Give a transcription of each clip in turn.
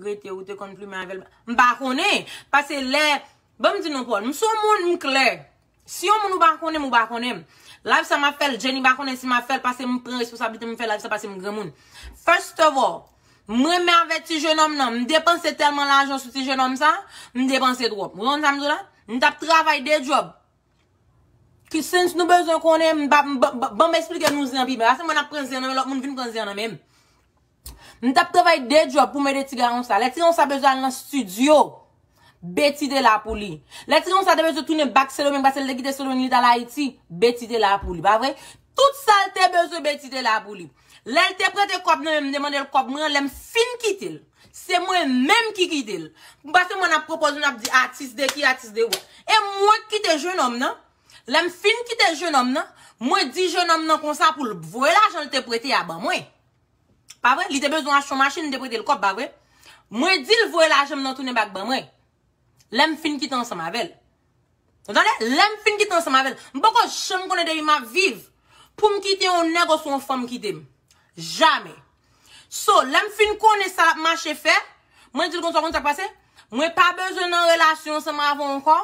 Rete ou te konn plumen avèl. M pa konnen. Pase lè. Bon m di nou Paul. M son moun m klè. Si yon moun ou pa konnen m ou pa konnen m. Live sa m ap fèl. Jenny pa konnen si m ap fèl. Pase m pran responsabilite m fè live sa pase m granmoun. First of all. M renmen avè ti jenòm nan. M depanse tèlman lajan sou ti jenòm sa. M depanse twòp. M renmen sa m di w la. M tap travay 2 job. Ki sens nou bezwen konnen m pa banm esplike nou zen an pi byen. Ase mwen ap pran zen nan men lòt moun vin pran zen an nan menm. M tap travay 2 djòb pou m ede ti garon sa. Lè ti garon sa bezwen al nan studio, Betty te la pou li. Lè ti garon sa te bezwen tounen back Sendomeng pase l te kite Sendomeng li t al Ayiti, Betty te la pou li. Pa vre? Tout sa l te bezwen Betty te la pou li. Lèl te prete kòb nan menm m demandel kòb mwen an lèm fin kitel se mwen menm ki kite l pase mwen nap propoze nap di atis de ki atis de wè e mwen ki kite jenòm nan lèm fin kite jenòm nan mwen di jenòm nan konsa poul voye lajan l te prete a ban mwen pa vre li te bezwen achte yon machin m te prete l kòb pa vre mwen dil voye lajan m nan tounen bak ban mwen lèm fin kite ansanm avèl. Ou tande? Lè m fin kite ansanm avè l, m poko janm konnen de li m ap viv pou m kite yon nèg oswa yon fanm kite m. Jamè. So, lè m fin konnen sa l ap mache fè, mwen di l konsa, ou konn sa k pase? Mwen pa bezwen nan relasyon ansanm avè w ankò,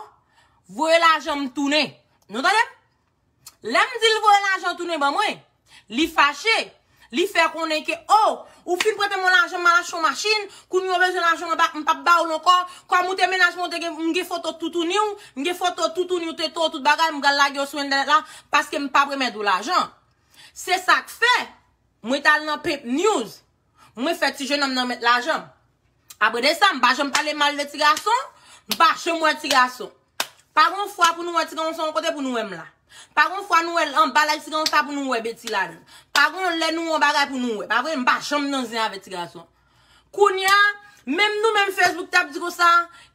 voye lajan m tounen. Nou tande? Lè m di l voye lajan tounen ban mwen, li fache. Li fè konnen ke, o, ou fin prete mwen lajan m al achte yon machin, kounye a ou bezwen lajan m m pap ba ou l ankò, kòm ou te menaj mwen, m gen foto toutouni w, m gen foto toutouni w, tete w, tout bagay, m pral lage yo sou entènèt la, paske m pap remèt ou lajan. Se sa k fè, mwen t al nan Pimp News, mwen fè ti jenòm nan remèt lajan m. Apre de sa, m pa janm pale mal de ti gason, m pa janm wè ti gason. Pa gon fwa pou nou wè ti gawon se yon kote pou nou wè m la. Pa gon fwa nou wè l anba laj ti gawon sa pou nou wè Betty la dan. Pa gon lè nou wè yon bagay pou nou wè. Pa vre? M pa janm nan zen avè ti gason. Kounya, menm nou menm Facebook tap di konsa,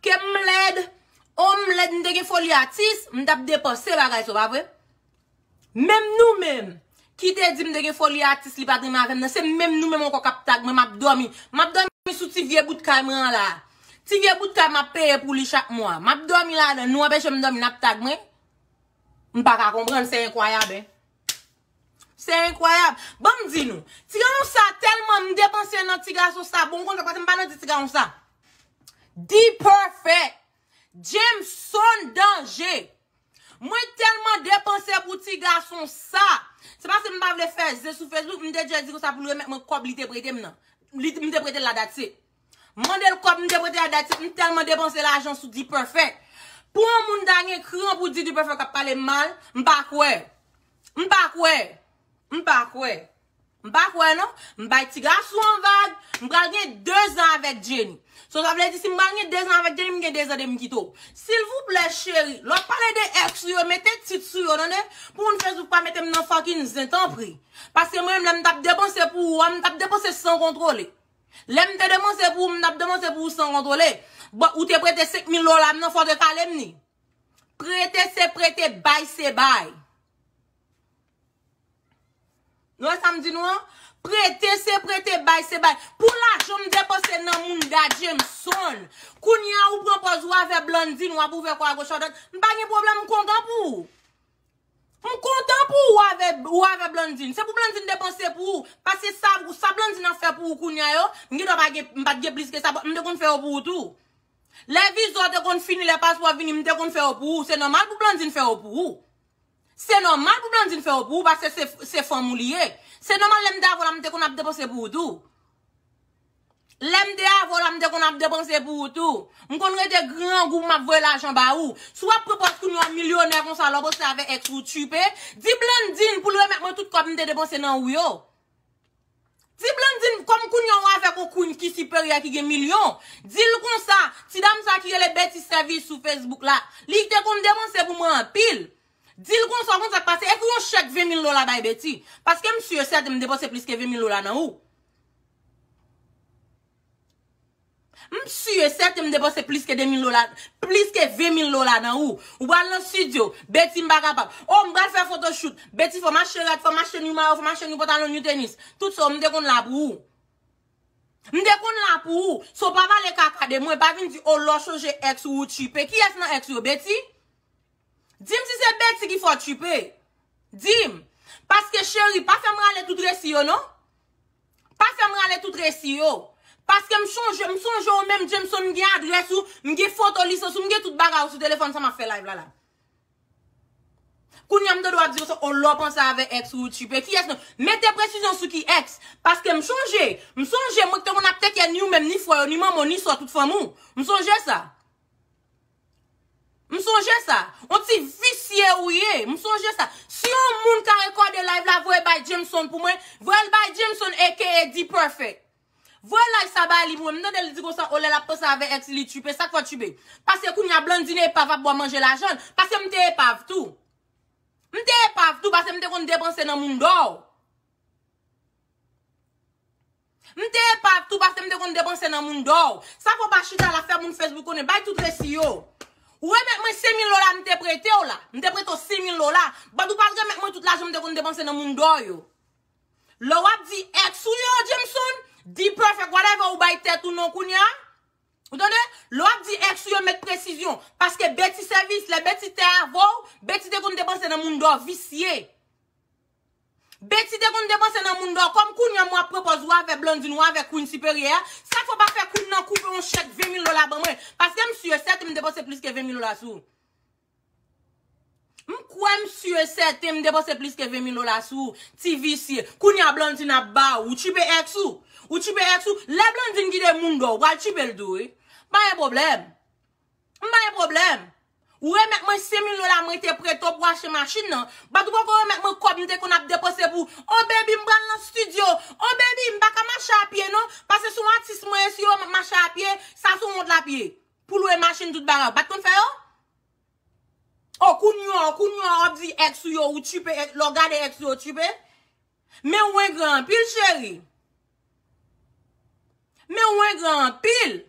ke m lèd, oh m lèd m te gen foli atis, m tap depanse bagay sa w pa vre? Menm nou menm Ki te dim te gen foli atis li pat renmen avèm nan se menm nou menm ankò kap tag mwen map dòmi map dòmi sou ti vye bout kay mwen an la ti vye bout kay map peye pou li chak mwa map dòmi ladann nou anpechem dòmi nap tag mwen m paka konprann se enkwayab hein se enkwayab banm di nou ti gason sa tèlman m depanse nan ti gason sa bon m konn fè paske m pa nan di ti gason sa D-perfect Jameson danje. Mwen telman depanse pou ti gason sa. Se paske m pa vle fè zen sou Facebook, m te djè di konsa pou l remèt mwen kòb li te prete m nan. Li m te prete l la that's it. M mande l kòb m te prete a that's it. M telman depanse lajan sou D-Perfect. Pou yon moun ta gen kran pou di D-Perfect ap pale m mal, m pa kwè. M pa kwè. M pa kwè. M pa kwè non. M bay ti gason an vag. M pral gen 2 zan avèk Jenny. So sa vle di si m pral gen 2 zan avèk Jenny m gen 2 zan depim kite w. Silvouplè cheri, lè w pale de ex ou yo mete tit sou yo tande. Pou moun Facebook pa mete m nan fucking zen tanpri. Paske mwen menm lè m tap depanse pou ou a m tap depanse san kontwole. Lè m te depanse pou ou m tap depanse pou ou san kontwole. Bon ou te prete 5 mil dola m nan fò w te kale m ni. Prete se prete bay se bay. Nou wè sam di nou an? Prete se prete bay se bay. Pou lajan m depanse nan moun Da Jameson. Kounya ou pran pòz ou avè Blandine wap ouvè kò a goch a dwat. M pa gen pwoblèm m kontan pou ou. M kontan pou ou avè ou avè Blandine. Se pou Blandine depanse pou ou. Paske sa sa Blandine ap fè pou ou kounya yo, m gen dwa pa gen m pat gen plis ke sa m te konn fè yo pou ou tou. Lè viza w te konn fini lè paspò vini m te konn fè yo pou ou. Se nòmal pou Blandine fè yo pou ou. Se nòmal pou Blandine fè yo pou ou paske se fanm ou li ye. Se nòmal lè m te avè w la m te konn ap depanse pou ou tou. Lè m te avè w la m te konn ap depanse pou ou tou. M konn rete grangou m ap voye lajan ba ou. Si w ap pran pòz kounye w milyonè konsa lè w bostre avè ex ou tchuipe, di Blandine pou l remèt mwen tout kòb m te depanse nan ou yo. Ti Blandine kòm kounya ou avèk on Queen ki siperyè ki gen milyon, di l konsa, ti dam sa ki rele Betty Service sou Facebook la, li te konn depanse pou mwen anpil. Di l konsa, ou konn sa k pase, ekri on chèk 20 mil dola bay Betty, paske m si e sèten m depanse plis ke 20 mil dola nan ou. M su e sèten m depanse plis ke 2000 dola, plis ke 20000 dola nan ou. Ou pral nan studio, Betty m pa kapab. Oh m pral fè photoshoot, Betty fò m achte rad, fò m achte new mayo, fò m achte new pantalon, new tenis. Tout sa w m te konn la pou ou. M te konn la pou ou. So pa pale kaka de mwen, pa vin di oh lè w chanje ex ou, ou tchipe. Kiyès nan ex ou yo, Betty? Di m si se Betty ki fè w tchipe. Di m. Paske cheri, pa fè m rale tout resi yo non. Pa fèm rale tout resi yo. Paske m chonje, m sonje w menm Jameson m gen adrès ou, m gen foto lisans ou, m gen tout bagay ou sou telefòn sa map fè live la la. Kounya m tande w ap di konsa oh lè w panse avè ex ou ou tchipe. Kiyès nan, mete presizyon sou ki ex. Paske m chonje, m sonje mwen k te konn ap teke ni ou menm ni frè w, ni manman w, ni sò tout fanmi w. M sonje sa. M sonje sa. On ti visye ou ye. M sonje sa. Si yon moun ka rekòde live la voye bay Jameson pou mwen. Voyel bay Jameson aka D-Perfect. Voye live sa ba li pou mwen. M tande li di konsa oh lè lap panse avè ex li li tchuipe. Sak fè tchuipe? Pase kounya Blandine epav ap bwa manje lajanl. Pase m te epav tou. M te epav tou pase m te konn depanse nan moun dò. M te epav tou paske m te konn depanse nan moun dor. Sa fè w pa chita la fè moun Facebook konnen bay tout resi yo. Ou remèt mwen 5000 lola m te prete w la. M te prete w 5000 lola. But ou pa al remèt mwen tout lajan m te konn depanse nan moun dor yo. Lè w ap di ex ou yo Jameson, D-Perfect whatever ou bay tèt ou non kounya. Ou tande? Lè w ap di ex ou yo met presizyon. Paske Betty sèvis, lè Betty te avè w, Betty te konn depanse nan moun dor visye. Betty te konn depanse nan moun dò kòm kounya mwen ap pran pòz wa vè Blandine wa vè Queen siperyè a sak fè w pa fè Queen nan koupe yon chèk 20 mil dola ban mwen paske m si e sèten m depanse plis ke 20 mil dola sou m kwè m si e sèten m depanse plis ke 20 mil dola sou ou ti visye kounya Blandine ap ba ou ou tchipe ex ou ou tchipe ex ou lè Blandine kite moun dò ou pral tchipe l tou wi pa gen pwoblèm. M pa gen pwoblèm. Ou remèt mwen 100 mil dola mwen te prete w pou achte machin nan, bat ou poko remèt mwen kòb m te konn ap depanse pou Oh baby m pral nan studio, Oh baby m pa ka mache a pye non, pase se yon atis mwen ye si yo wè m ap mache a pye, sa se yon wont l ap ye. Pou lwe machin tout bagay ou pat konn fè yo? Oh kounye a, kounye a w ap di ex ou yo ou tchipe, lè w gade ex ou yo w tchipe? Men ou engran anpil cheri. Men ou engran anpil.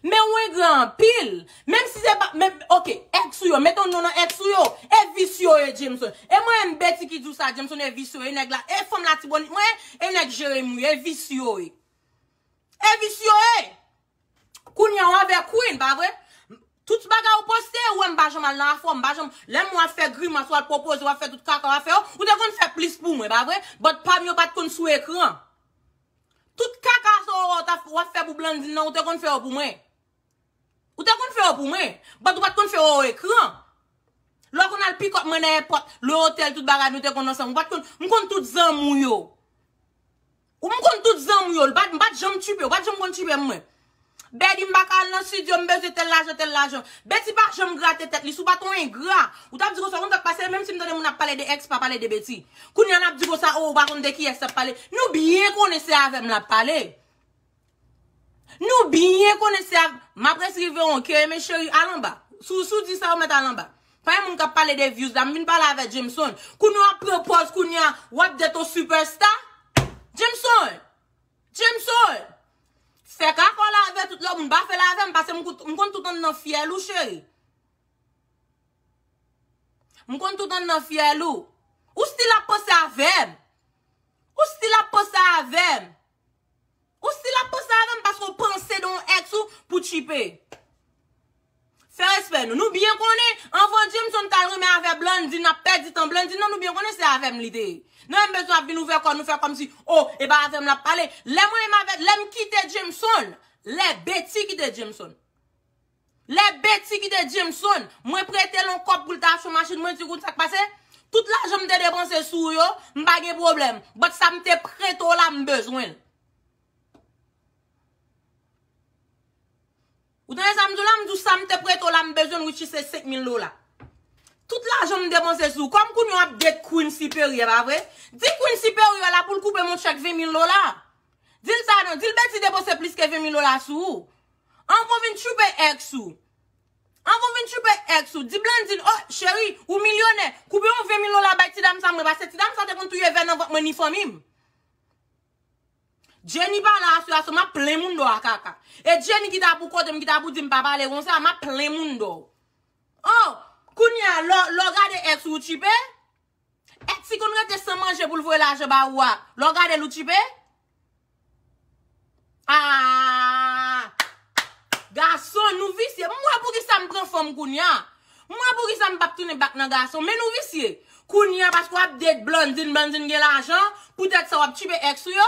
Men ou engran anpil. Menm si se pa, menm, ok, ex ou yo, met on non nan ex ou yo. E vis yo ye Jameson. E mwen menm Betty ki di w sa Jameson e vis yo ye nèg la. E fanm latibonit mwen, e nèg Jeremi ou ye, e vis yo ye. E vis yo ye! Kounya w avè Queen pa vre? Tout bagay ou poste yo, ou wè m pa janm al nan afè w, m pa janm, lè m wè w ap fè grimas, w al pwopoze, w ap fè tout kaka w ap fè yo, ou te konn fè plis pou mwen pa vre? But pa m yo pat konn sou ekran. Tout kaka sa w wè w ap fè pou Blandine nan, ou te konn fè yo pou mwen. Ou te konn fè yo pou mwen, but ou pat konn fè yo o ekran. Lè w konn al pick up mwen nan èpòt, le otèl tout bagay nou te konn ansanm, ou pat konn, m konn tout zanmi w yo. Ou m konn tout zanmi w yo. L pat m pat janm tupe w. Pat janm konn tupe m mwen. Betty m paka al nan studio m bezwen tel lajan tel lajan. Betty pa janm grate tèt li. Si w pat yon engra. Ou tap di konsa ou konn sak pase menm si m tande moun ap pale de ex pa pale de Betty. Kounya lap di konsa oh ou pa konn de kiyès lap pale. Nou byen konnen se avè m lap pale. Nou byen konnen se ak Map res rive yon ke eme cheri al anba Sou sou di sa ou met al anba Pa gen moun kap pale de views la m vin pale avè Jameson Kounya wap pran pòz kounya wap det yon super star Jameson Jameson Fè kakòw la avè tout lòt moun pa fèl avèm pase m kout m konn tout anndan fyèl ou cheri M konn tout anndan fyèl ou Ou stil ap panse avèm Ou stil ap panse avèm. Ou stil ap panse avèm paske ou panse de yon ex ou pou tchipe. Fè respè nou. Nou byen konnen anvan Jameson tal renmen avè Blandy nap pèdi tan Blandy nan nou byen konnen se avèm li te ye. Nou menm bezwen ap vin ouvè kò nou fè kòmsi oh e pa avèm lap pale. Lè mwen menm avè lèm kite Jameson lè Betty kite Jameson. Lè Betty kite Jameson, mwen prete l on kòb pou l ta achte machin, mwen di kounn sa k pase? Tout lajan m te depanse sou ou yo, m pa gen pwoblèm, but sa m te prete w la m bezwen l. Ou tande sa m di w la? M di w sa m te prete w la m bezwen l which is se 5000 dola. Tout lajan m depanse sou ou, kòm kounye w ap date Queen Siperyè, pa vre? Di Queen Siperyè la pou l koupe m on chèk 20000 dola. Di l sa non, di l Betty depanse plis ke 20000 dola sou ou. An kon vin tchoupe ex ou. An kon vin tchoupe ex ou. Di Blandine oh cheri ou milyonè koupe yon 20 mil dola bay ti dam sa mwen pase ti dam sa te konn touye vè nan vant mwen ni fanmim. Jenny pa la aswè a so map plen moun do a kaka. E Jenny ki ta pou kotem ki ta pou dim pa pale konsa map plen moun do. Oh kounya lè w gade ex ou ou tchipe? Ex li konn rete san manje poul voye lajan ba ou a lè w gadel ou tchipe? Aahh gason nou visye m wè poukisa m pran fanm kounya m wè poukisa m pap tounen bak nan gason men nou visye kounya paske wap date Blandine Blandine gen lajan poutèt sa wap tchipe ex ou yo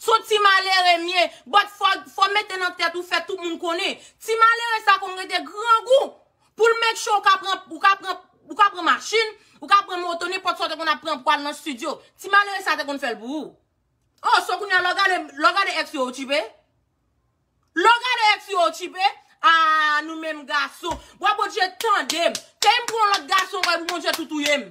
Son ti malere mye, but fò mete nan tèt ou fè tout moun konnen, ti malere sa konn rete grangou poul make sure ou ka pran ou ka pran ou ka pran machin, ou ka pran moto nenpòt sa ou te konn ap pran pou al nan studio, ti malere sa te konn fèl pou ou. Oh so kounya lè w gade lè w gade ex yo ou tchipe? Lè w gade ex yo ou tchipe? Aah nou menm gason. Bwa Bondye tandem. Key m pran yon lòt gason anko epi Bondye tou touyem.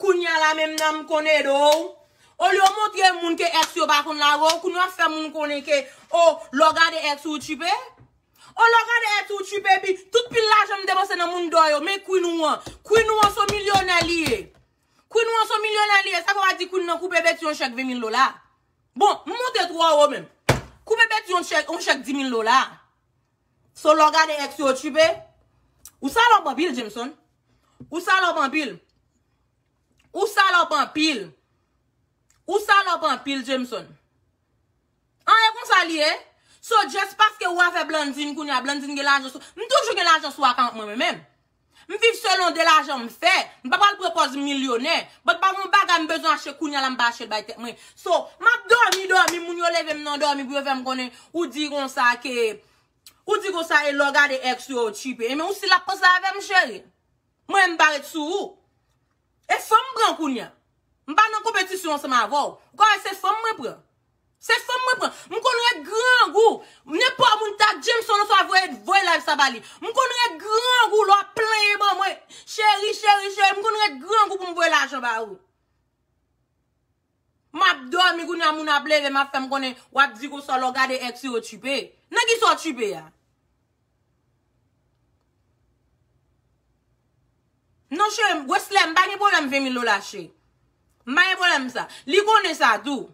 Kounya la menm nanm konn ede w. Olye w montre moun ke ex yo pa konn lage w, kounya w ap fè moun konnen ke o lè w gade ex ou, ou tchipe? O lè w gade ex ou, ou tchipe epi tout pil lajan m depanse nan mundo yo, men queen ou an. Queen ou an se yon milyonè li ye. Queen ou an se yon milyonè li ye. Sa vle w pa di queen nan koupe Betty yon chèk 20 mil dola? Bon, m monte twò wo menm. Koupe Betty yon chèk 10 mil dola? So lè w gade ex yo tchiipe. Ou salòp anpil Jameson. Ou salòp anpil. Ou salòp anpil. Ou salòp anpil Jameson. An e konsa li ye. So just paske ou avè Blandine kounya Blandine gen lajan sou. M toujou gen lajan sou akant mwen menm. M viv selon de lajan m fè. M pa pral pran pòz m milyonè. But pa gen yon bagay m bezwen achte kounya la m pa achte l bay tèt mwen. So, m ap dòmi dòmi moun yo leve m nan dòmi pou yo fè m konnen ou di konsa ke ou di konsa e lè w gade ex ou yo ou tchipe. Enben ou si l ap panse avè m cheri. Mwen menm m pa ret sou ou. E fanm m pran kounya. M pa nan konpetisyon ansanm avè w. Ou ka wè se fanm mwen pran. Se fanm mwen pran. M konn ret grangou. Nenpò moun ta Jameson oswa voye voye live sa ba li. M konn ret grangou lè w ap plenyen ban mwen. Cheri, cheri, cheri m konn ret grangou pou m voye lajan ba ou. M ap dòmi kounye a moun ap leve m ap fè m konnen w ap di konsa lè w gade ex ou yo tchipe. Nan kisa w tchipe a? Non cheri m Wesley m pa gen pwoblèm 20 mil dola cheri m pa gen pwoblèm sa li konnen sa tou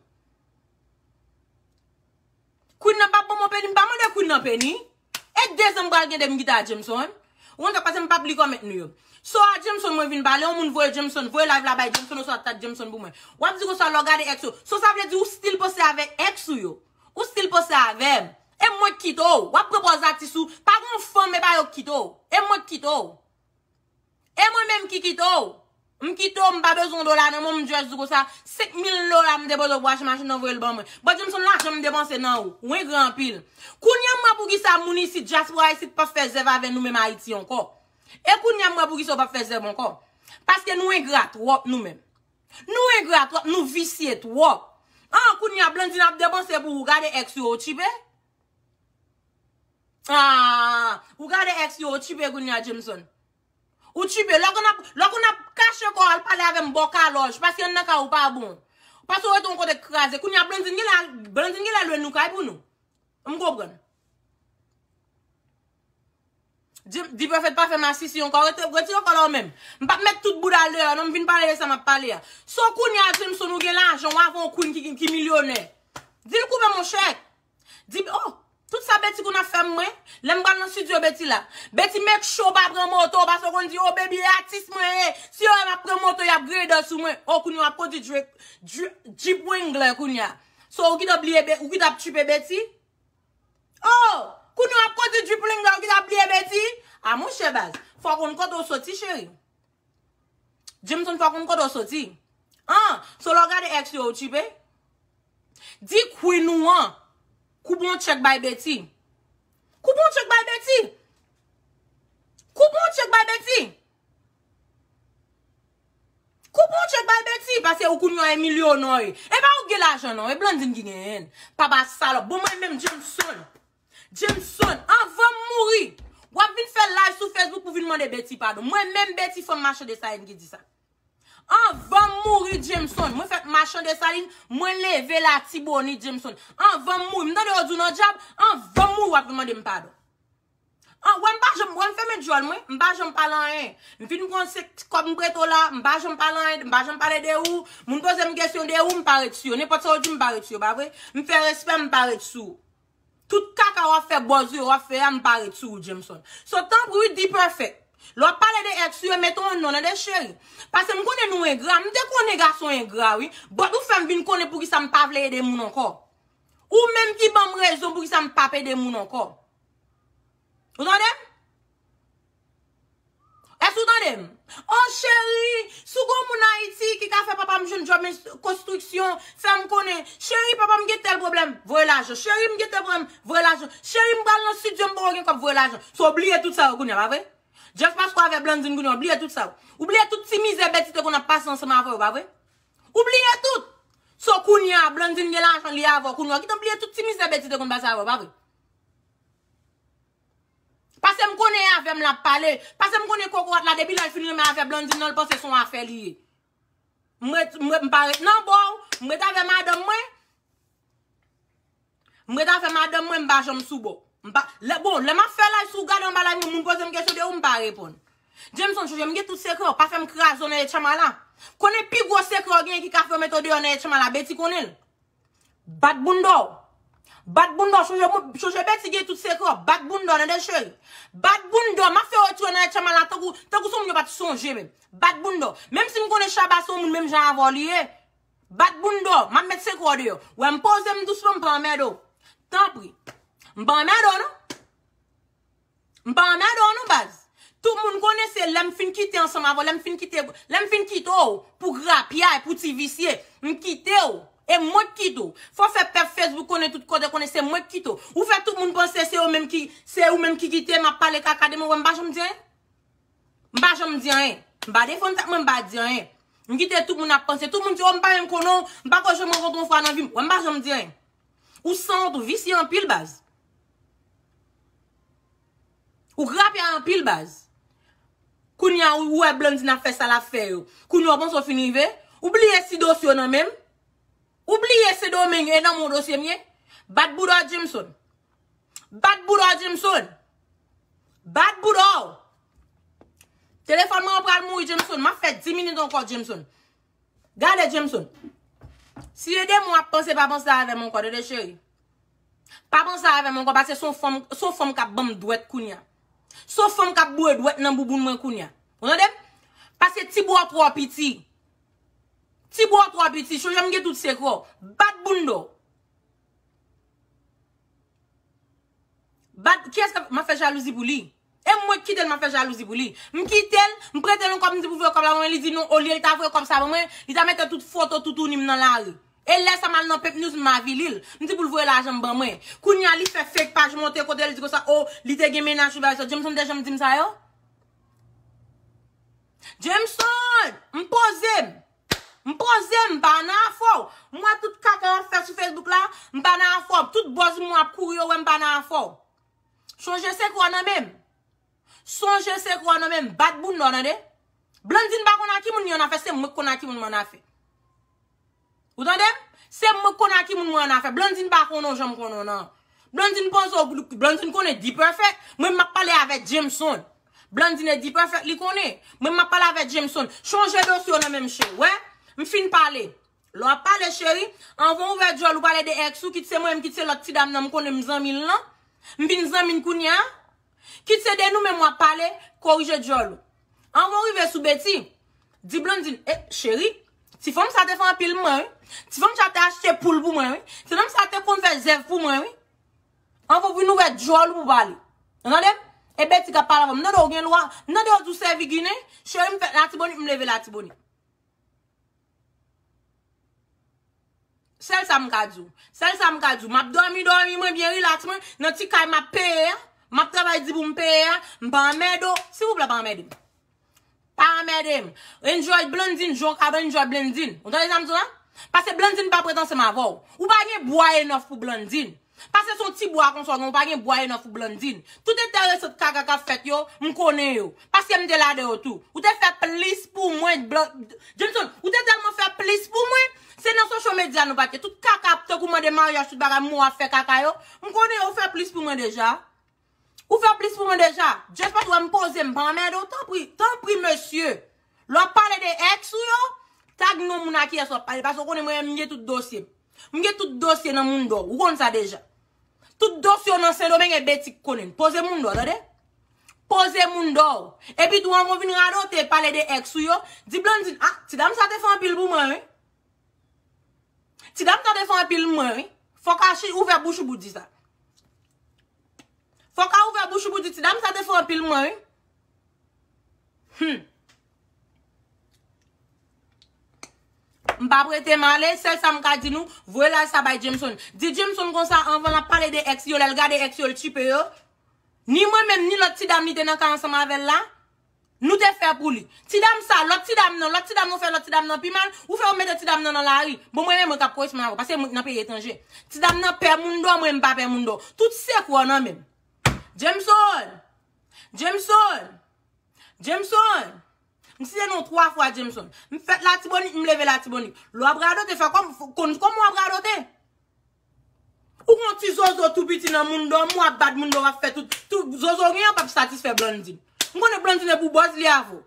Queen nan pap banm peni m pa mande Queen nan peni e 2 zan m pral gen 2 m gita a Jameson ou konn sa pase m pap li kòmèt nou yo so a Jameson mwen vin pale yon moun voye Jameson voye live la bay Jameson oswa tag Jameson pou mwen wap di konsa lè w gade ex ou so sa vle di ou stil panse avèk ex ou yo ou stil panse avèm. E mwen k kite w. Wap pran pòz atis ou. Pa gen yon fanm epa yo k kite w. E mwen k kite w. E mwen menm ki kite w. M kite w m pa bezwen yon dola nan men w m just di w konsa 5000 dola m depoze pou achte machin nan voye l ban mwen. Bon di m son lajan m depanse nan ou. Ou engra anpil. Kounya m wè poukisa moun isit dyaspora isit pap fè zèv avè nou menm Ayiti ankò. E kounya m wè poukisa ou pap fè zèv ankò. Paske nou engra twòp nou menm. Nou engra trop nou visye trop. Ahh kounya Blandine ap depanse pou ou gade ex yo ou tchipe Ahh ou gade ex yo ou tchipe kounya Jameson Ou tchipe lè konn ap lè konn ap kache kòw al pale avèm bò kalòj paske anndan kay ou pa bon Paske ou rete yon kote k kraze kounya Blandine genlè al Blandine genlè lwe nou kay pou nou M konprann. Dprofet pa fè masisi ankò retire kòl a ou menm m pap met tout bouda l deyò non m vin pale de sa map pale a se w kounye a Jameson ou gen lajan w avè yon Queen ki milyonè di l koupe mon chè di l oh tout sa Betty konn ap fè m mwen lè m pral nan studio Betty la Betty make sure w pa pran moto paske w konn di oh baby e atis mwen ye si yo wè m ap pran moto y ap grader sou mwen oh kounye a w ap kondi Jeep Wrangler kounye a so ou ki t bliye ou ki t ap tchipe Betty Oh! Kounye w ap kondi Jeep Wrangler w ki ta bliye Betty? Ah monchè baz, fò w konn kote w soti cheri. Jameson fò w konn kote w soti. Ah! So lè w gade ex yo ou tchipe? Di Queen ou an koube yon tchèk bay Betty. Koube yon tchèk bay Betty! Koube yon tchèk bay Betty! Koup yon tchek bay Betty pase ou koun yon Emilio non e pa ou gen lajan non e Blandine ki genyenl papa salop bon mwen menm Jameson Jameson anvanm mouri wap vin fè live sou Facebook pou vin mande Betty padon mwen menm Betty fanm machan desaline ki di sa anvanm mouri Jameson mwen fèt machan desaline mwen leve latibonit Jameson anvanm mouri mtande yo di w nan djab anvanm mouri wap vin mandem padon. An wè m pa janm wè m fèmen dyòl mwen, m pa janm pale anyen. M fin konn se kòb m prete w la, m pa janm pale anyen, m pa janm pale de ou. Moun poze m kesyon de ou, m pa ret sou yo. Nenpòt sa yo di m, m pa ret sou yo, pa vre? M fè respè, m pa ret sou ou. Tout kaka w ap fè, bòz yo w ap fè a, m pa ret sou ou, Jameson. So, tanpri wi, D-Perfect. Lè w ap pale de èks ou yo, mete yon non nan de, cheri. Pase m konnen nou engra. M te konnen gason engra, wi. Bòt ou fè m vin konnen poukisa m pa vle ede moun ankò. Ou menm ki banm rezon pou kisa m pap ede moun ankò. Ou tande m? Èske ou tande m? Oh cheri, si w gon moun Ayiti ki ka fè papa m jwenn djòb konstriksyon, fè m konnen. Cheri, papa m gen tèl pwoblèm, voye lajan. Cheri, m gen tèl pwoblèm, voye lajan. Cheri, m pral nan stidyo, m poko gen kòb, voye lajan. So w bliye tout sa yo kounye a, pa vre? Just paske w avè Blandine kounye a, w bliye tout sa yo. Ou bliye tout ti mizè Betty te konn ap pase ansanm avè w, pa vre? Ou bliye tout! So kounya Blandine gen lajan li avèw kounya ou kitan bliye tout ti mizè Betty te konn pase avèw pa vre? Pasem konnen e avèm lap pale, pasem konnen kokorat la depi lèl fin renmen avè Blandine nan li panse son afè li ye. M ret m pa ret nan bòw, m ret avè madanm mwen. M ret avè madanm mwen m pa janm sou bo. M pa lè bon lè map fè live si w gade anba live mwen moun poze m kesyon de ou m pa reponn. Jameson chanje m gen tout sekrè w pa fè m kraze w nan etchamala. Konnen pi gwo sekrè w genyen ki ka fè yo mete w deyò nan etchamala Betty konnen l. Bat bounda w. Bat bounda w chanje moun chanje Betty gen tout sekrè w bat bounda w tande cheri. Bat bounda w map fè w retire w nan etchamala tankou tankou se w moun yo pat sonje menm. Bat bounda w. Menm si m konnen Shabba se w moun menm jan avè w li ye. Bat bounda w, map met sekre w deyò. Wè m poze m dousman m pa anmède w. Tanpri. M pa anmède w non. M pa anmède w non baz. Tout moun konnen se lè m fin kite ansanm avè w, lè m fin kite, lè m fin kite w pou grapyay, pou ti visye, m kite w. E mwen k kite w. Fò w fè pèp Facebook konnen tout kote konnen se mwen k kite w. Ou fè tout moun panse se yo menm ki, se ou menm ki kite m ap pale kaka de mwen, wè m pa janm di anyen. M pa janm di anyen. M pa defann sa, mwen m pa di anyen. M kite tout moun ap panse. Tout moun di, oh m pa menm konnen w. M pako janm rankontre w yon fwa nan vi m. Wè m pa janm di anyen. Ou sanwont, ou visye anpil baz. Ou grapya anpil baz. Kounye a ou wè Blandine ap fè sa l ap fè yo. Kounye a ou panse w fin rive. Ou bliye si dosye w nan men m. Ou bliye Sendomeng e nan men w dosye m ye. Bat bouda w Jameson. Bat bouda w Jameson. Bat bouda w. Telefòn mwen an pral mouri Jameson. Map fè 10 minit ankò Jameson. Gade Jameson. Si e demon ap panse pa panse avè m ankò tande cheri. Pa panse avè m ankò pase son fanm son fanm kap banm dwèt kounya. Son fanm kap boure dwèt nan bouboun mwen kounya. Ou tande m? Pase ti bouda w twò piti. Ti bouda w twò piti. Chonje m gen tout sekrè w. Bat bounda w. Bat kiyès kap map fè jalouzi pou li. E mwen ki kitel map fè jalouzi pou li. M kitel, m pretel yon kòb m di pou voye kòb la ban mwen li di non olye li ta voye kòb sa ban mwen li ta mete tout foto toutouni m nan lari. E lè sa mal nan pepnews m avili l. M di pou l voye lajan m ban mwen. Kounya li fè fake paj monte kotel di konsa oh li te gen mennaj li bagay sa. Jameson te janm di m sa yo? Jameson! M poze m. M poze m pa nan afè w. M wè tout kaka w ap fè sou Facebook la, m pa nan afè w. Tout buzz moun ap kouri yo wè m pa nan afè w. Sonje sekrè w nan men m. Sonje sekrè w nan men m. Bat bounda w tande. Blandine pa konn a ki moun li an afè, se mwen k konn a ki moun m an afè. Ou tande m? Se mwen k konn a ki moun mwen an afè. Blandine pa konnen w jan m konnen w nan. Blandine panse w, Blandine konnen D-Perfect. Mwen m ap pale avè Jameson. Blandine Dperfect li konnen. Mwen map pale avè Jameson. Chanje dosye w nan men m cheri. Wè? M fin pale. Lè w ap pale cheri, anvan w ouvè dyòl ou pale de ex ou, kit se mwen menm kit se lòt ti dam nan m konnen m zanmi l lan. M vin zanmi l kounye a. Kit se de nou menm w ap pale, korije dyòl ou. Anvan w rive sou Betty, di Blandine, eh cheri, ti fanm sa te fè anpil m mwen wi. Ti fanm sa te achte poul pou mwen wi. Ti fanm sa te konn fè zèv pou mwen wi. Anvan pou nou wè djòl ou pou pale. Ou tande m? E Betty kap pale avan m. M tande ou gen lwa. M tande ou di ou sèvi Ginen. Cheri m fèt Latibonit, m leve Latibonit. Sèl sa m ka di w. Sèl sa m ka di w. M ap dòmi dòmi mwen byen rilaks mwen nan ti kay m ap peye a. M ap travay di pou m peye a. M pa anmède w. Silvouplè pa anmède m. Pa anmède m. Enjoy Blandine jan w ka enjoy Blandine. Ou tande sa m di w la? Pase Blandine pa prèt ansanm avè w. Ou pa gen bwa enough pou Blandine. Pase se yon ti bwa konsa w gen, ou pa gen bwa enough pou Blandine. Tout enteresant kaka k ap fèt yo, m konnen yo. Paske m te ladan yo tou. Ou te fè plis pou mwen Johnson, ou te tèlman fè plis pou mwen, se nan social media nou pa t ye. Tout kaka tankou mande maryaj tout bagay mou ap fè kaka yo, m konnen yo, ou fè plis pou mwen deja. Ou fè plis pou mwen deja. Just paske ou wè m poze m pa anmède w tanpri, tanpri mesye lè w ap pale de ex ou yo tag non moun a kiyès w ap pale paske ou konnen mwen menm m gen tout dosye m. M gen tout dosye nan Mundo ou konn sa deja. Tout dosye w nan Sendomeng e Betty k konnen l. Poze Mundo w tande. Poze Mundo w. Epi tou anvan w vin radote pale de ex ou yo, di Blandine ah ti dam sa te fè anpil pou mwen wi. Ti dam sa te fè anpil mwen wi. Fòk Archi ouvè bouch ou pou w di sa. Fok a ouvè bouch ou pou di ti dam sa te fò anpil mwen wi. Hum. M pa prete m ale, sèl sa m ka di nou, voye laj sa bay Jameson. Di Jameson konsa anvan l ap pale de èks li yo, lè l gade èks yo l tchipe yo. Ni mwen menm, ni lòt ti dam li te nan ka ansanm avè l la, Nou te fè pou li. Ti dam sa, lòt ti dam nan, lòt ti dam nan ou fè lòt ti dam nan pi mal, ou fè ou mete ti dam nan nan lari. Bon mwen menm mwen kap koresponn avèw paske mwen nan peyi etranje. Ti dam nan pè moun dò mwen mpa pè moun dò. Tout sekrè w nan menm. Jameson! Jameson! Jameson! M site non w 3 fwa Jameson. M fèt latibonit m leve latibonit. Lè wap radote fè kòm, konn kòman wap radote. Ou gon ti zozo tou piti nan moun dòm ou ap bat moun dòm ap fè tout tout zozo ou gen an pap satisfè blandine m konnen blandine pou bòz li avèw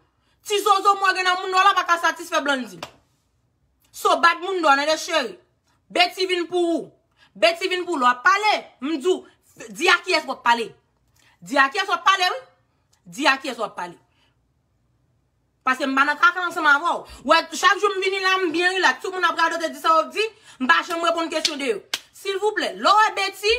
ti zozo mwen gen nan moun dòm la paka satisfè blandine so bat moun dòm nan de cheri beti vin pou ou beti vin pou lè wap pale m diw di a kiyès wap pale di a kiyès wap pale wi di a kiyès wap pale Paske m pa nan kaka ansanm avè w. Ou wè, chak jou m vini la, m byen rilaks. Tout moun ap radote, di sa yo ap di. M pa janm reponn kesyon de yo. Silvouplè, lè w wè Betty,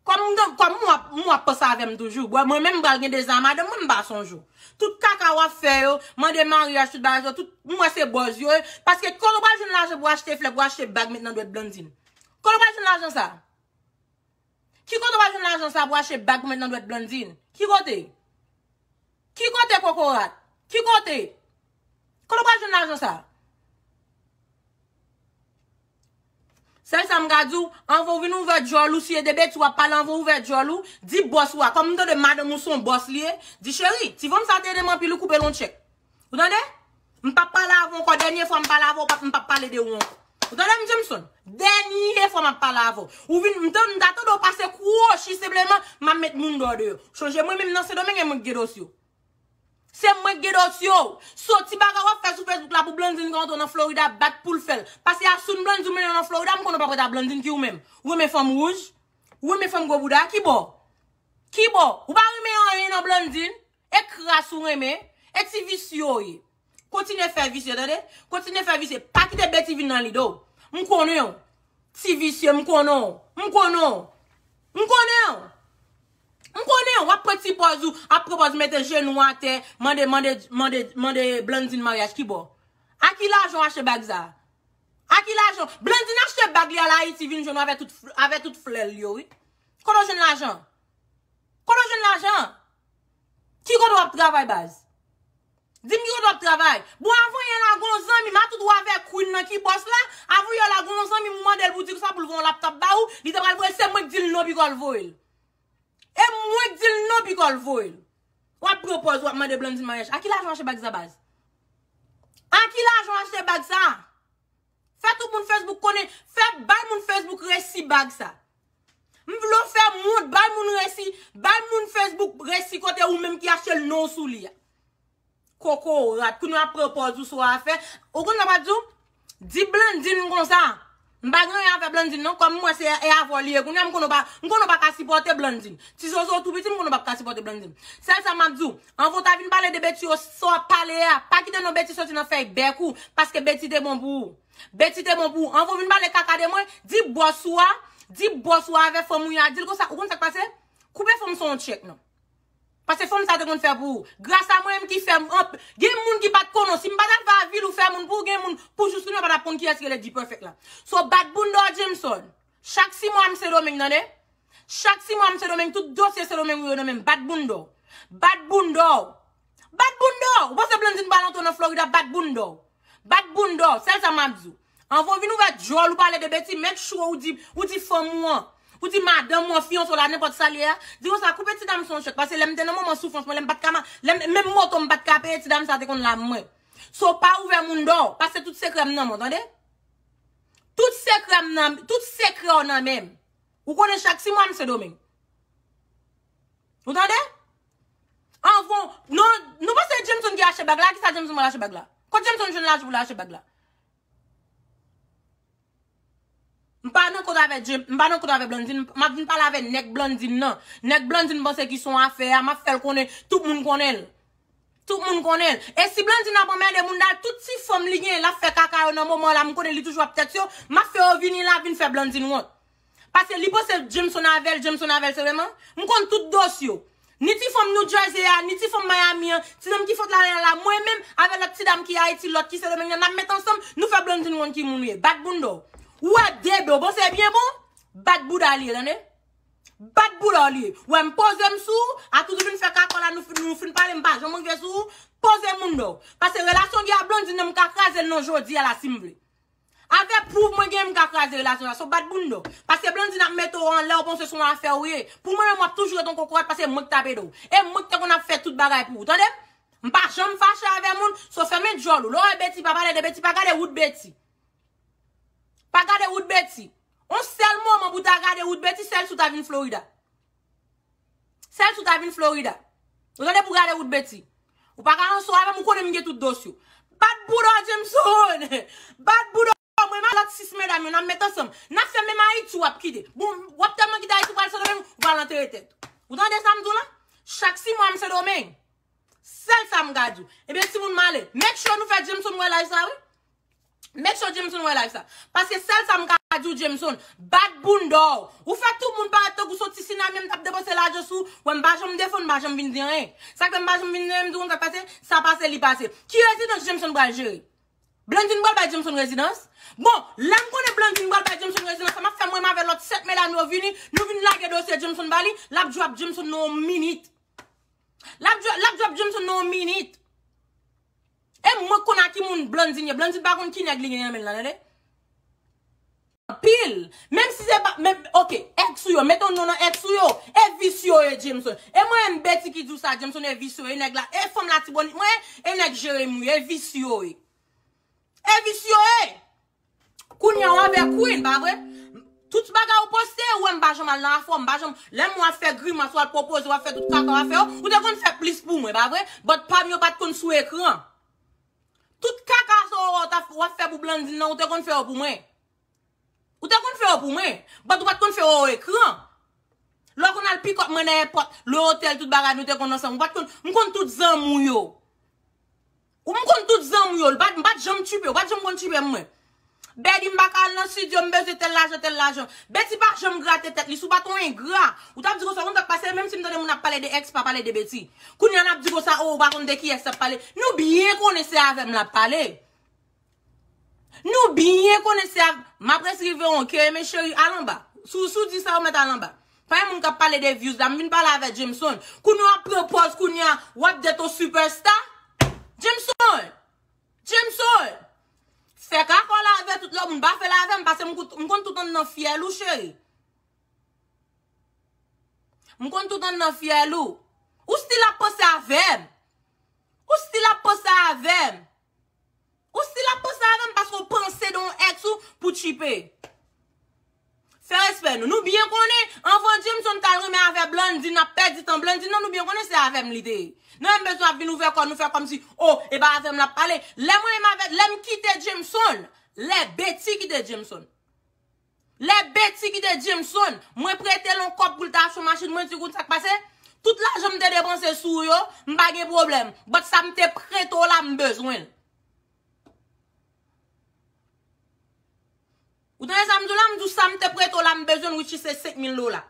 kòm m gen, kòm m wè, m wè w ap panse avè m toujou. Bon, mwen menm m pral gen dezi a madanm mwen, m pa sonje w. Tout kaka w ap fè yo, mande maryaj, tout bagay sa yo, tout, m wè se bòz yo ye. Paske kote w pral jwenn lajan pou w achte flè, pou w achte bag met nan dwèt Blandine? Kote w pral jwenn lajan sa a? Ki kote w al jwenn lajan sa pou achte bag pou met nan dwèt Blandine? Ki kote? Ki kote kokorat? Ki kote? Kote w pral jwenn lajan sa? Sèl sa m ka di w, anvan w vin ouvè dyòl ou, si e de betiz w ap pale anvan w ouvè dyòl ou, di bòs ou a, kòm m tande madanm ou se yon bòs li ye, di cheri, ti vanm sa te ede m anpil ou koupe l yon tchèk. Ou tande? M pap pale avè w ankò. Dènye fwa m pale avè w, m pap pale de ou ankò. Ou tande M. Jameson? Dènye fwa m ap pale avè w. Ou vin, m ta tande w pase kwochi senpleman, m ap met moun dòdè yo. Chonje mwen menm nan Sendomeng e mwen k gen dosye w. Se mwen k gen dosye w. So ti bagay w ap fè sou Facebook la pou Blandine ka antre w nan Florida ap bat pou l fè l. Pase asoun Blandine di w mennen w nan Florida, m konnen w pa prèt a Blandine ki ou menm. Ou renmen fanm wouj? Ou renmen fanm gwo bouda? Ki bò? Ki bò? Ou pa renmen anyen nan Blandine? E kras ou renmen, e ti visye ou ye. Kontinye fè visye tande, kontinye fè visye, pa kite bety vin nan lide w. M konnen w, ti visye m konnen w, m konnen w. M konnen w. M konnen w, w ap pran ti pòz ou, ap pran pòz mete jenou w atè, mande, mande, mande, mande Blandine maryaj ki bò? A ki lajan w achte bag sa a? A ki lajan w, Blandine achte bag li al Ayiti vin jwenn w avè tout, avè tout flè l yo wi. Kote w jwenn lajan an? Kote w jwenn lajan an? Ki kote wap travay baz? Dim ki kote wap travay? Bon avan yè la gon zanmim a tout wa vè Queen nan ki bòs la, avan yè la gon zanmim ou mandel pou dil sa poul voyon laptop ba ou, li te pral voye se mwenk dil non pikol voyel. E mwenk dil non pikol voyel. Wap pran pòz wap mande Blandine maryaj. A ki lajan w achte bag sa baz? A ki lajan w achte bag sa? Fè tout moun Facebook konnen, fè bay moun Facebook resi bag sa. M vle w fè moun, bay moun resi, bay moun Facebook resi kote ou menm ki achte l non w sou li a. Koko w rat, kounye w ap pran pòz ou sou afè. Ou konn sa m ap di w? Di Blandine konsa, m pa gen anyen avè Blandine non, kòm m wè se e avè w li ye kounye a, m konnen w pa, m konnen w pa ka sipòte Blandine. Ti zozo w tou piti, m konnen w pa ka sipòte Blandine. Sèl sa m ap di w, Anvan w ta vin pale de Betty yo, sa w ap pale a, pa kite non Betty soti nan fèy bèk ou, paske Betty te bon pou ou. Betty te bon pou ou. Anvan w vin pale kaka de mwen, di bòs ou a, di bòs ou a avè fanm ou ya, di l konsa, ou konn sa k pase? Koupe fanm san w tchèk non. Pase fanm sa te konn fè pou ou. Gras a mwen menm ki fè anp, gen moun ki pa t konnen w. Si m pa t al fè avil ou fè moun pou ou, gen moun pou joustou nou yo pa t ap konn kiyès rele D-Perfect la. So bat bounda w Jameson. Chak si mwa m sendomeng tande. Chak si mwa m sendomeng tout dosye sendomeng ou yo nan menm bat boundaw. Bat boundaw. Bat boundaw. Ou panse blandine pral antre nan florida bat boundaw. Bat boundaw sel sa map di w. Anvan w vin ouvè dyol ou pale de beti make sure ou di ou di fanm ou an ou di madanm ou an fiyanse w la nenpot sa li ye a di konsa koupe ti dam sa yon chek pase lem te nan moman soufrans mwen lem pat ka ma lem menm moto m pat ka peye ti dam sa te konn la mwen so pa ouvè moun do pase tout sekrè m nan men w tande. Tout sekrè m nan, tout sekrè w nan menm. Ou konnen chak ti mwa m se domeng. Ou tande? Anvan, non, nou panse e Jameson ki achte bag la, ki sa Jameson pral achte bag la? Kot Jameson jwenn lajan pou l achte bag la? M pa nan kont avè Jame, m pa nan kont avè Blandine, m ap vin pale avè nèg Blandine nan. Nèg Blandine panse ki son afè a, m ap fè l konnen, tout moun konnen l. Tout moun konnen l. E si Blandine ap anmède Mounda l, tout ti fanm li genyen l ap fè kaka yo nan moman la, m konnen li toujou ap tèt yo, m ap fè yo vini la vin fè Blandine wont. Pase li panse Jameson avè l, Jameson avè l sèlman. M konn tout dose yo. Ni ti fanm New Jersey a, ni ti fanm Miami an, ti nonm ki fot la lè la, mwen menm, avè lòt ti dam ki Ayiti, lòt ki Sendomeng nan, n ap met ansanm, nou fè Blandine wont ki moun li ye. Bat bounda w. Ou wè de do, bon se byen bon? Bat bouda li ye, tande. Bat boula w li. Wè m poze m sou w, atou nou vin fè kakò la nou fin pale m pa janm rive sou w, poze mounn w. Pase relasyon gen a Blondine nan m ka kraze l non jodi a la si m vle. Avè pwouv mwen genyen m ka kraze relasyon sa. So bat bounda w. Pase Blondine ap mete w anlè w panse son afè w ye. Pou mwen menm w ap toujou ret yon kokorat pase mwen k t ap ede w. E mwen ki te konn ap fè tout bagay pou w. Tande m? M pa janm fache avè moun. So fèmen djòl ou. Lè w wè Betty pa pale de Betty pa gade wout Betty. Pa gade wout Betty. On sèl moman pou ta gade wout Betty sèl si w ta vin Florida. Sèl si w ta vin Florida. Ou tande pou gade wout Betty. Ou pa ka anso avè m ou konnen m gen tout dos yo. Bat bouda w Jameson! Bat bouda w mwen menm ak lòt 6 medam yo n ap met ansanm. N ap fè menm Ayiti w ap kite. Bon w ap tèlman kite Ayiti w pral Sendomeng ou pral antere tèt ou. Ou tande sa m di w la? Chak 6 mwa m Sendomeng. Sèl sa m ka di w. Ebyen timoun m ale. Make sure nou fè Jameson wè laj sa wi. Make sure Jameson wè live sa. Paske sèl sa m ka di w Jameson, bat bounda w. Ou fè tout moun parèt tankou son ti sinami an m t ap depanse lajan sou ou. Wè m pa janm defo n, m pa janm vin di anyen. Sa k fè m pa janm vin di anyen, m di w konn sa k pase, sa pase li pase. Ki rezidans Jameson pral jere? Blandine pral bay Jameson rezidans? Bon, lè m konnen Blandine pral bay Jameson rezidans sa m ap fè mwen m avè lòt 7 medam yo vini, nou vin lage dosye Jameson ba li, l ap djwap Jameson nan yon minit. L ap djwap Jameson nan yon minit. E mwen konn a ki moun Blandine ye. Blandine pa konn ki nèg li gen nan men l lan tande. Anpil. Menm si se pa menm ok ex ou yo met yon non nan ex ou yo. E vis yo ye Jameson. E mwen menm Betty ki di w sa Jameson e vis yo ye nèg la. E fanm latibonit mwen ye e nèg Jeremi w ye. E vis yo ye. E vis yo ye. Kounya w avè Queen pa vre? Tout bagay ou poste yo wè m pa janm al nan afè w, m pa janm Lè m wè w ap fè grimas ou al pwopoze w ap fè tout kaka w ap fè yo, ou te konn fè plis pou mwen pa vre? But pa m yo pat konn sou ekran Tout kaka sa w wè w tap wap fè pou Blandine nan ou te konn fè yo pou mwen Ou te konn fè yo pou mwen But ou pat konn fè yo o ekran Lè w konn al pick up mwen nan èpòt Le hotel tout bagay nou te konn ansanm ou pat konn M konn tout zanmi w yo Ou m konn tout zanmi w yo, m pat janm tchuipe, ou pat janm konn tchuipe m mwen. Betty m paka al nan studio, m bezwen tèl lajan, tèl lajan. Betty pa janm grate tèt li, si w pat yon engra, ou tap di konsa, ou konn sak pase, menm si m tande moun ap pale de ex, pa pale de Betty. Kounya nap di konsa, oh ou pa konn de kiyès lap pale, nou byen konnen se avè m lap pale. Nou byen konnen se avk Map res rive on ke men cheri al anba Sou sou di sa ou met al anba Pa gen moun kap pale de views la m vin pale avè Jameson Kou nou ap pran pòz kounya wap det on super star Jameson Jameson Fè kako la avè tout lòt moun pa fèl avèm pase m kout m konn tout anndan fyèl ou cheri M konn tout anndan fyèl ou Ou stil ap panse avèm Ou stil ap panse avèm. Ou stil ap panse avèm paske ou panse de yon ex ou pou tchipe. Fè respè nou. Nou byen konnen anvan Jameson tal renmen avè Blandy nap pèdi tan Blandy nan nou byen konnen se avèm li te ye. Nou menm bezwen ap vin ouvè kò nou fè kòmsi oh e pa avèm lap pale. Lè mwen menm avè lèm kite Jameson lè Betty kite Jameson. Lè Betty kite Jameson, mwen prete l on kòb pou l ta achte machin, mwen di w konn sa k pase? Tout lajan m te depanse sou ou yo, m pa gen pwoblèm, but sa m te prete w la m bezwen l. Ou tande sa m di w la? M di w sa m te prete w la m bezwen l which is se 5000 dola.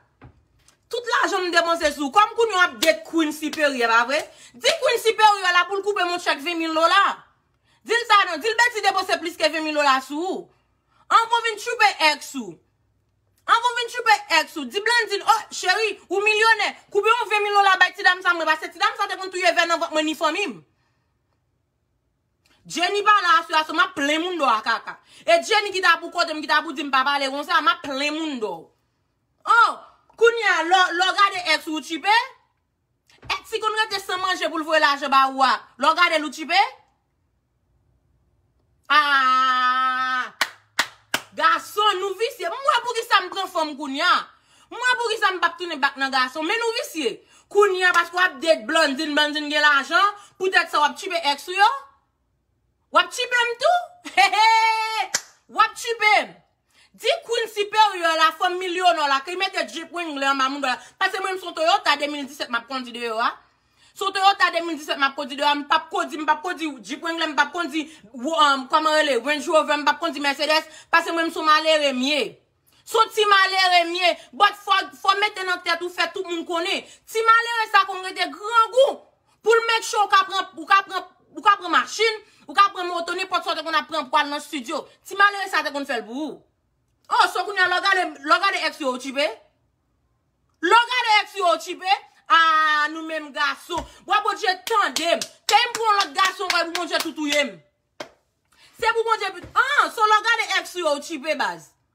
Tout lajan m depanse sou ou, kòm kounye w ap date Queen Siperyè, pa vre? Di Queen Siperyè la pou l koupe m on chèk 20000 dola. Di l sa non, di l Betty depanse plis ke 20000 dola sou ou. An kon vin tchoupe ex ou. An kon vin tchoupe ex ou. Di Blandine oh cheri ou milyonè koube yon 20 mil dola bay ti dam sa mwen pase ti dam sa te konn touye vè nan vant mwen ni fanmim. Jenny pala a sua so map plen moun do a kaka. E Jenny ki ta pou kotem ki ta pou dim pa pale konsa map plen moun do. Oh kounya lè w gade ex ou ou tchipe? Etsy konn rete san manje poul voye lajan ba ou a lè w gadel ou tchipe? Aahh gason nou visye m wè poukisa m pran fanm kounya m wè poukisa m pap tounen bak nan gason men nou visye kounya paske wap date Blandine Blandine gen lajan poutèt sa wap tchipe ex ou yo? Wap tchipe m tou? Hehe wap tchipe m. Di Queen Superior la fanm milyonè w la ke mete jip wingle anba moudon l la. Pase mwen menm son Toyota 2017 m ap kondi deyò a. Son Toyota 2017 m ap kondi deyò a. M pap kondi, m pap kondi jip wingle, m pap kondi kòman rele Range Rover, m pap kondi Mercedes. Pase mwen menm son malere m ye. Son ti malere m ye. But fò mete nan tèt ou fè tout moun konnen. Ti malere sa konn rete grangou. Pou l make sure ou ka pran, ou ka pran, ou ka pran machine, ou ka pran moto, nenpòt sa ou te konn ap pran pou al nan studio. Ti malere sa te konn fè l pou ou. Oh, so kounya lè w gade, lè w gade ex yo ou tchipe? Lè w gade ex yo ou tchipe? Aah nou menm gason. Bwa Bondye tande m. Pey m pou yon lòt gason ankò epou Bondye tou touye m. Se pou Bondye pu, aah, so lè w gade ex yo ou tchipe baz?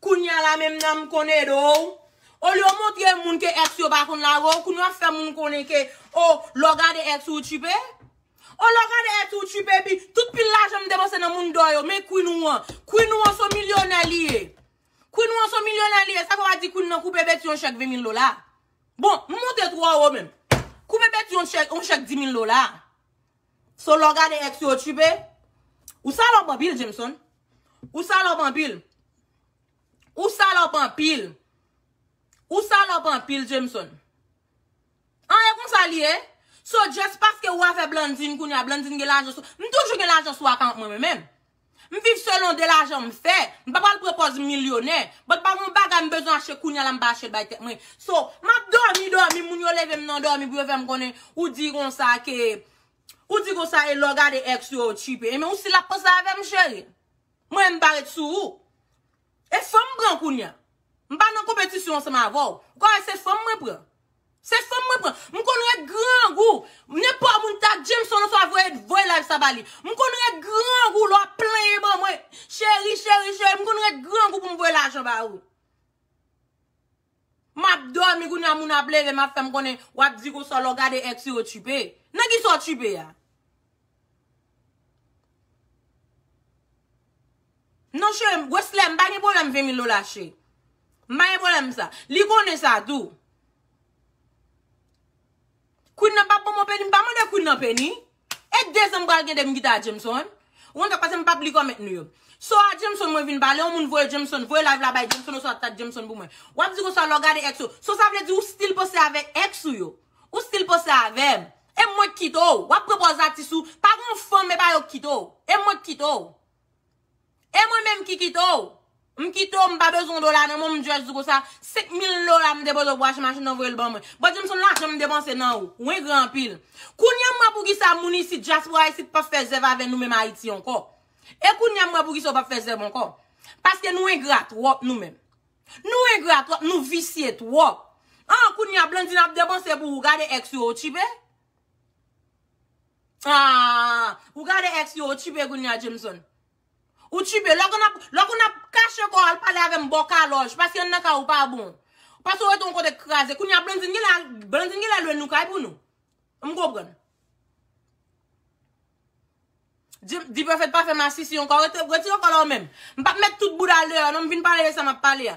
Kounya la menm nanm konn ede w. Olye w montre moun ke ex yo pa konn lage w, kounya w ap fè moun konnen ke oh lè w gade ex ou, ou tchipe? Oh lè w gade ex ou, ou tchipe epi tout pil lajan m depanse nan moun dò yo, men Queen ou an. Queen ou an son milyonè li ye. Queen ou an son milyonè li ye. Sa fè w pa di Queen nan koupe Betty yon chèk 20 mil dola? Bon, m monte twò wo menm. Koupe Betty yon chèk 10 mil dola? So lè w gade ex yo tchiipe. Ou salòp anpil Jameson. Ou salòp anpil. Ou salòp anpil. Ou salòp anpil Jameson. An e konsa li ye. So just paske ou a fè Blandine kounya Blandine gen lajan sou. M toujou gen lajan sou akant mwen menm. M viv selon de lajan m fè. M pa pral pran pòz m milyonè. But pa gen yon bagay m bezwen achte kounya la m pa achte l bay tèt mwen. So, m ap dòmi dòmi moun yo leve m nan dòmi pou yo fè m konnen ou di konsa ke ou di konsa e lè w gade ex yo ou tchipe. Enben ou si l ap panse avè m cheri. Mwen m pa ret sou ou. E fanm m pran kounya. M pa nan konpetisyon ansanm avè w. Ou ka wè se fanm mwen pran. Se fanm mwen pran. M konn ret grangou. Nenpò moun ta Jameson oswa voye voye live sa ba li. M konn ret grangou lè w ap plenyen ban mwen. Cheri, cheri, cheri. M konn ret grangou pou m voye lajan ba ou. Map domi kounya moun ap leve map fem konnen wap di konsa lè w gade ex ou yo tchipe. Nan kisa w tchipe a? Non chere, Wesley mpa gen pwoblem 20 mil dola che. Mpa gen pwoblem sa. Li konnen sa tou. Queen nan pap banm yon peni, mpa mande queen nan peni. E dezem pral gen dem gita a Jameson. Ou konn sa k pase m pap li comment nou yo. So a Jameson mwen vin pale yon moun voye Jameson voye live la bay Jameson oswa tag Jameson pou mwen. Wap di konsa lè w gade ex ou. So sa vle di ou still panse avek ex ou yo. Ou still panse avem. E mwen k kite w. Wap pran pòz atis ou. Pa gen yon fanm epa yo k kite w. E mwen k kite w. E mwen menm ki kite w? M kite w, m pa bezwen yon dola nan menw, m just di w konsa, 5 mil dola m depoze pou achte machin nan voye l ban mwen. Bon di m son lajan m depanse nan ou. Ou engra anpil. Kounya m wè poukisa moun isit, dyaspora isit pap fè zèv avè nou menm Ayiti ankò. E kounya m wè poukisa ou pap fè zèv ankò. Paske nou engra twòp nou menm. Nou engra twòp, nou visye twòp. An kounya Blandine ap depanse pou ou, gade ex ou, ou tchipe? Aah ou gade ex li ou tchipe kounya Jameson. Ou tchipe lè konn ap lè konn ap kache kò al pale avèm bò kalòj paske anndan kay ou pa bon. Paske ou rete yon kote k kraze kounya Blandine genlè al Blandine genlè lwe nou kay pou nou. M konprann. D-perfect pa fè masisi ankò rete retire kòl la ou menm. M pap met tout boudal deyò non m vin pale de sa map pale a.